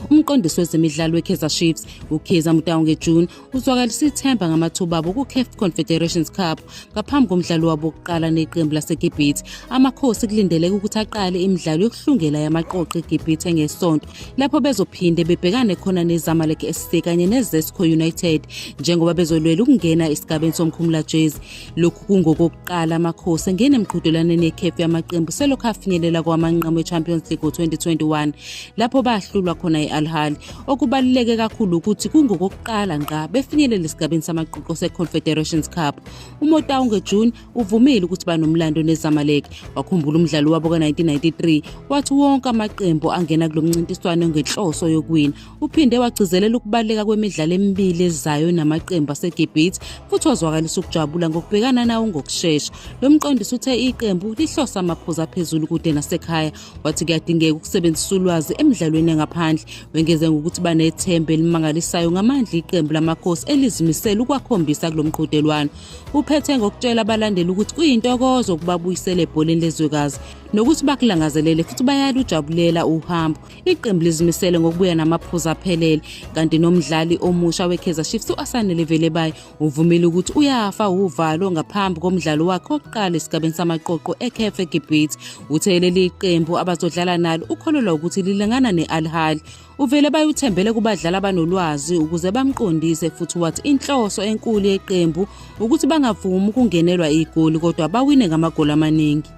umqondisi wezemidlalo we-kaizer chiefs ukhiza mutaunge june uzwakalisa ithemba ngamathuba abo ku-caf confederations cup ngaphambi komdlalo wabo wokuqala neqembu lasegibhithe amakhosi kulindeleke ukuthi aqale imidlalo yokuhlungela yamaqoqo egibhithe ngesonto lapho bezophinde bebhekane khona nezamalek sc kanye nezesco united njengoba bezolwela ukungena esigabeni somkhumulajezi Lokhu kungokokuqala amakhosi engene emqhudelwaneni yekhefu yamaqembu selokhu afinyelela kowamanqamu e-champions league ngo-2021 lapho bahlulwa khona i-alhal okubaluleke kakhulu ukuthi kungokokuqala ngqa befinyelela esigabeni samaquqo se-confederations cup umotau ngejune uvumile ukuthi banomlando nezamalek wakhumbula umdlalo wabo ka-1993 wathi wonke amaqembu angena kulo mncintiswano ngenhloso yokuwina Uphinde wagcizelela ukubaluleka kwemidlalo emibili ezayo namaqembu aseGibhithe futhi wazwakalisa ukujabula ngokubhekana nawo ngokushesha. Lo mqondisi uthe iqembu lihlose amaphuzu aphezulu kude nasekhaya wathi kuyadingeka ukusebenzisa ulwazi emidlalweni yangaphandle. Wengeze ngokuthi banethemba elimangalisayo ngamandla iqembu lamakhosi elizimisele ukwakhombisa kulo mqhudelwano. Uphethe ngokutshela abalandeli ukuthi kuyintokozo ukubabuyisela ebholeni lezwekazi nokuthi bakulangazelele futhi bayalujabulela uhambo. Iqembu lizimisele ngokubuya namaphuzu aphelele kanti nomdlali omusha weKaizer Chiefs u-Asanele Velebayi uvumile ukuthi uyafa uvalo ngaphambi komdlalo wakhe wokuqala esigabeni samaqoqo eCaf eGibhithe. Uthe leli qembu abazodlala nalo ukholelwa ukuthi lilingana ne-Al Ahly. Uvele bayuthembele kubadlali abanolwazi ukuze bamqondise futhi wathi inhloso enkulu yeqembu ukuthi bangavumi ukungenelwa igoli kodwa bawine ngamagoli amaningi.